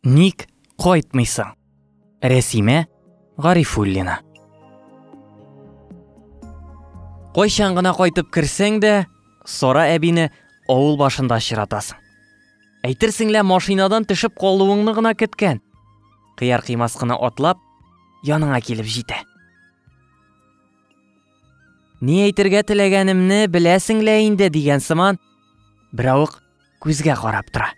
Ник кайтмыйсың? Рәсимә Гарифуллина. Кайчан гына кайтып керсәң дә, Сара әбине авыл башында очратасың. Әйтерсең лә машинадан төшеп калуыңны гына көткән. Кыяр кыймас кына атлап, яныңа килеп җитә. Ни әйтергә теләгәнемне беләсең лә инде дигән сыман, беравык Күзгә карап тора.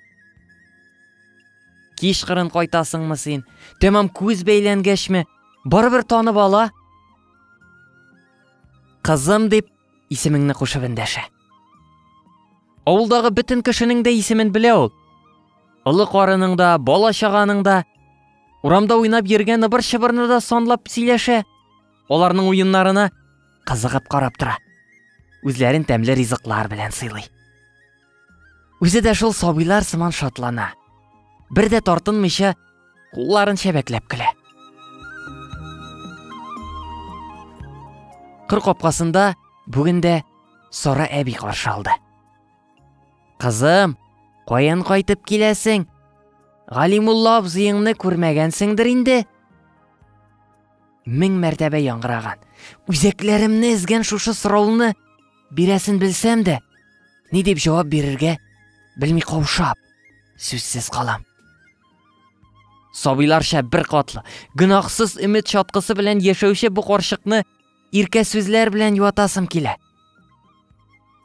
Кичкырын кайтасыңмы син? Тәмам күз бәйләнгәчме? Барыбер танып ала. Кызым дип исемеңне кушып эндәшә. Авылдагы бөтен кешенең дә исемен белә ул. Олы карының да, бала чаганың да, урамда уйнап йөргән ыбыр-чыбырны да санлап сөйләшә. Аларның уеннарына кызыгып карап тора. Үзләрен тәмле ризыклар белән сыйлый. Үзе дә шул сабыйлар сыман шатлана. Бер дә тартынмыйча кулларын чәбәкләп көлә. Кыр капкасында бүген дә Сара әби каршы алды. Кызым, каян кайтып киләсең? Галимулла абзыеңны күрмәгәнсеңдер инде? Мең мәртәбә яңгыраган. Үзәкләремне эзгән шушы сорауны бирәсен белсәм дә, ни дип җавап бирергә белми каушап, сүзсез калам. Сабыйларча бер катлы, гөнаһсыз өмет чаткысы белән яшәүче бу карчыкны иркә сүзләр белән юатасым килә.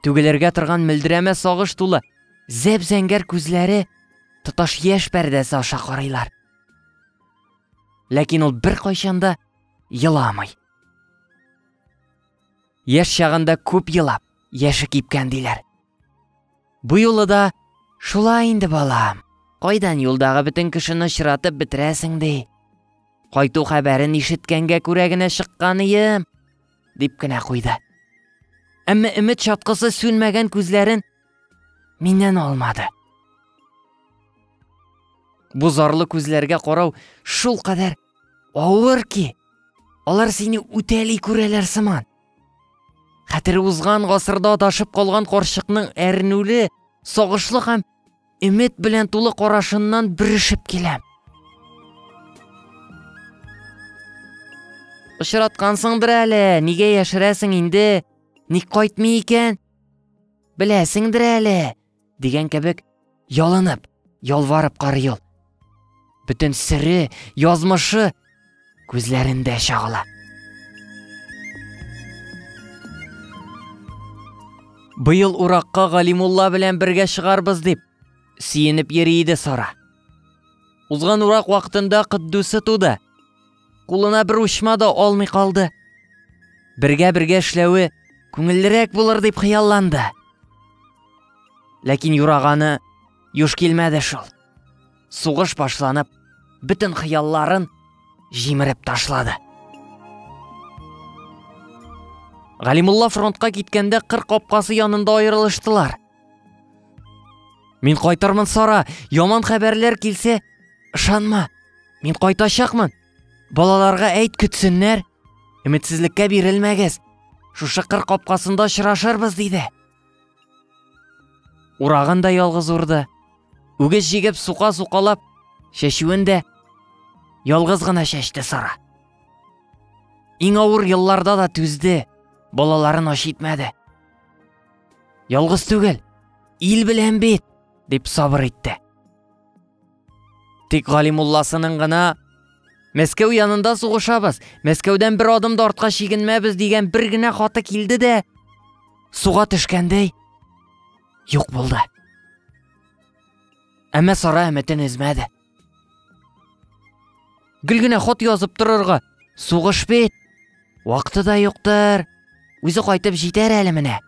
Түгелергә торган мөлдерәмә сагыш тулы, зәп-зәңгәр күзләре тоташ яшь пәрдәсе аша карыйлар. ләкин ул беркайчан да еламый яшь чагында күп елап яше кипкән диләр бу юлы да шулай инде балам кайдан юлдагы бөтен кешене очратып бетерәсең ди кайту хәбәрен ишеткәнгә күрә генә чыкканыем дип кенә куйды әмма өмет чаткысы сүнмәгән күзләрен Миннән алмады. Бу зарлы күзләргә карау шул кадәр авыр ки, алар сине үтәли күрәләр сыман. Хәтер узган гасырда ташып калган карчыкның әрнүле, сагышлы һәм өмет белән тулы карашыннан бөрешеп киләм. Очраткансыңдыр әле, нигә яшерәсең инде? Ник кайтмый икән? Беләсеңдер әле, дигән кебек, ялынып, ялварып карый ул. Бөтен сире, язмышы күзләрендә чагыла. Быел уракка Галимулла белән бергә чыгарбыз дип, сөенеп йөри иде Сара. Узган урак вакытында Кыддусы туды. кулына бер учма да алмый калды. Бергә-бергә эшләве күңеллерәк булыр дип хыялланды. Ләкин юраганы юш килмәде шул. Сугыш башланып, бөтен хыялларын җимереп ташлады. Галимулла фронтка киткәндә кыр капкасы янында аерылыштылар. Мин кайтырмын, Сара. Яман хәбәрләр килсә, ышанма. Мин кайтачакмын. Балаларга әйт көтсеннәр. Өметсезлеккә бирелмәгез. Шушы кыр капкасында очрашырбыз, диде. Урагын да ялгыз урды. Үгез җигеп сука-сукалап, чәчүен дә ялгыз гына чәчте Сара. Иң авыр елларда да түзде, балаларын аш итмәде. Ялгыз түгел, ил белән бит, дип сабыр итте. Тик Галимулласының гына Мәскәү янында сугышабыз, Мәскәүдән бер адым да артка чигенмәбез дигән бер генә хаты килде дә суга төшкәндәй юк булды. Әмма Сара өметен өзмәде. Гел генә хат язып торырга. Сугыш бит. Вакыты да юктыр. Үзе кайтып җитәр әле менә.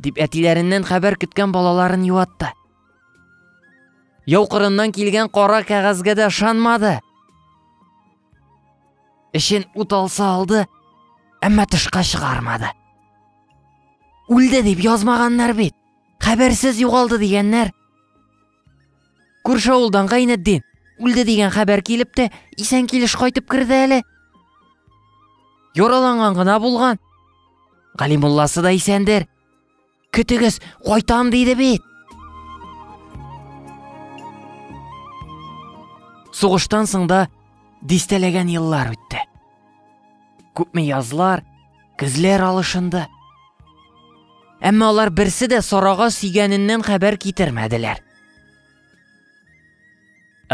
Дип әтиләреннән хәбәр көткән балаларын юатты. Яу кырыннан килгән кара кәгазьгә дә ышанмады. Эшен ут алса алды, әмма тышка чыгармады. Үлде дип язмаганнар бит. Хәбәрсез югалды дигәннәр. Күрше авылдан Гайнетдин үлде дигән хәбәр килеп тә, исән килеш кайтып керде әле. Яраланган гына булган. Галимулласы да исәндер. Көтегез, кайтам диде бит. Сугыштан соң да дистәләгән еллар үтте. Күпме язлар, көзләр алышынды. Әмма алар берсе дә Сарага сөйгәненнән хәбәр китермәделәр.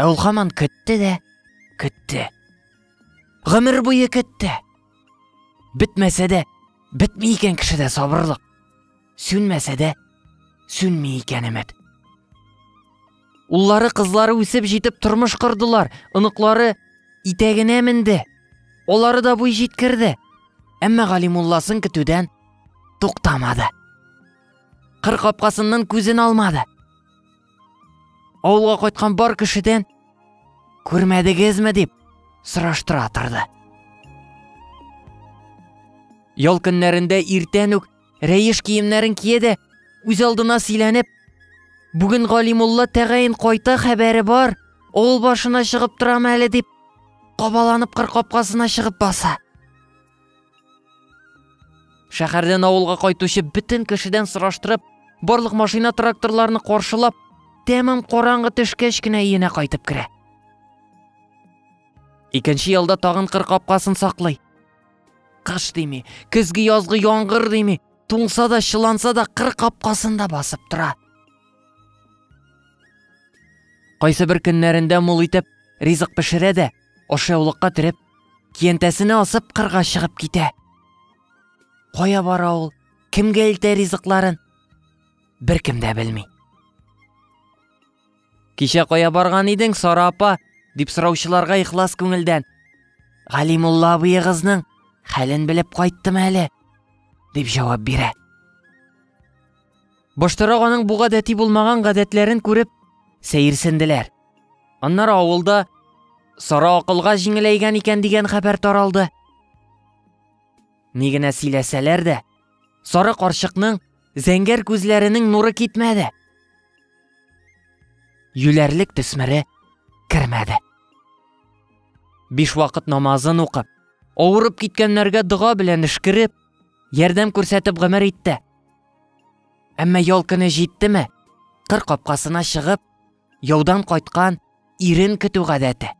Ә ул хаман көтте дә, көтте. Гомер буе көтте. Бетмәсә дә, бетми икән кешедә сабырлык. Сүнмәсә дә, сүнми икән өмет. Уллары, кызлары үсеп җитеп тормыш кордылар, оныклары итәгенә менде. Олары да буй җиткерде. Әмма Галимулласын көтүдән туктамады. Кыр капкасыннан күзен алмады. Авылга кайткан бар кешедән күрмәдегезме дип сораштыра торды. Ял көннәрендә иртән үк Рәеш киемнәрен кие дә, үз алдына сөйләнеп, Бүген Галимулла тәгаен кайта хәбәре бар, авыл башына чыгып торам әле дип, кабаланып кыр капкасына чыгып баса. Шәһәрдән авылга кайтучы бөтен кешедән сораштырып, барлык машина тракторларны каршылап, тәмам караңгы төшкәч кенә өенә кайтып керә. Икенче ялда тагын кыр капкасын саклый. Кыш дими, көзге язгы яңгыр дими, туңса да, чыланса да кыр капкасында басып тора. Кайсы бер көннәрендә мул итеп ризык пешерә дә, ашъяулыкка төреп, киянтәсенә асып кырга чыгып китә. Кая бара ул? Кемгә илтә ризыкларын? Беркем дә белми. Кичә кая барган идең, Сара апа? дип сораучыларга ихлас күңелдән. Галимулла абыегызның хәлен белеп кайттым әле, дип җавап бирә. Баштарак аның бу гадәти булмаган гадәтләрен күреп, сәерсенделәр. Аннары авылда Сара акылга җиңеләйгән икән дигән хәбәр таралды. Ни генә сөйләсәләр дә, Сары карчыкның зәңгәр күзләренең нуры китмәде. Юләрлек төсмәре кермәде. Биш вакыт намазын укып, авырып киткәннәргә дога белән эшкереп, ярдәм күрсәтеп гомер итте. Әмма ял көне җиттеме, кыр капкасына чыгып, яудан кайткан ирен көтү гадәте.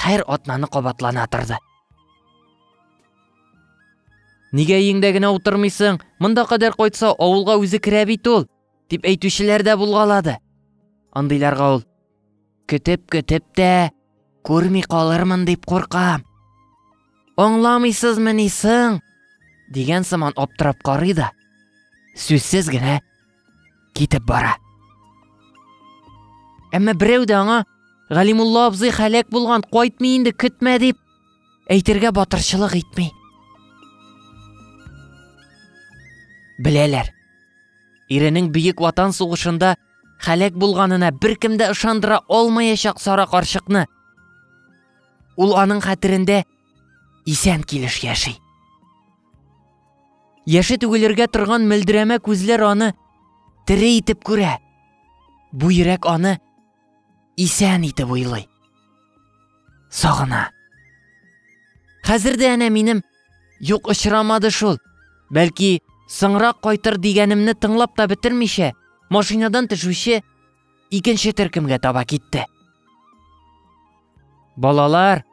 Хәер атнаны кабатлана торды. Нигә өеңдә генә утырмыйсың? Монда кадәр кайтса, авылга үзе керә бит ул, дип әйтүчеләр дә булгалады. Андыйларга ул көтеп-көтеп тә күрми калырмын дип куркам. Аңламыйсызмыни соң? дигән сыман аптырап карый да, сүзсез генә китеп бара. Әмма берәү дә аңа Галимулла абзый хәләк булган, кайтмый инде, көтмә дип әйтергә батырчылык итми. Беләләр. Иренең Бөек Ватан сугышында хәләк булганына беркем дә ышандыра алмаячак сара карчыкны. Ул аның хәтерендә Исән килеш яши. Яше түгелергә торган мөлдерәмә күзләр аны тере итеп күрә. Бу йөрәк аны исән итеп уйлый. Сагына. Хәзер дә әнә минем юк очрамады шул. Бәлки, соңрак кайтыр дигәнемне тыңлап та бетермичә, машинадан төшүче икенче төркемгә таба китте. Балалар,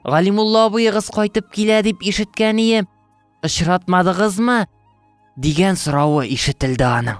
Галимулла абыегыз кайтып килә дип ишеткән ием. Очратмадыгызмы? дигән соравы ишетелде аның.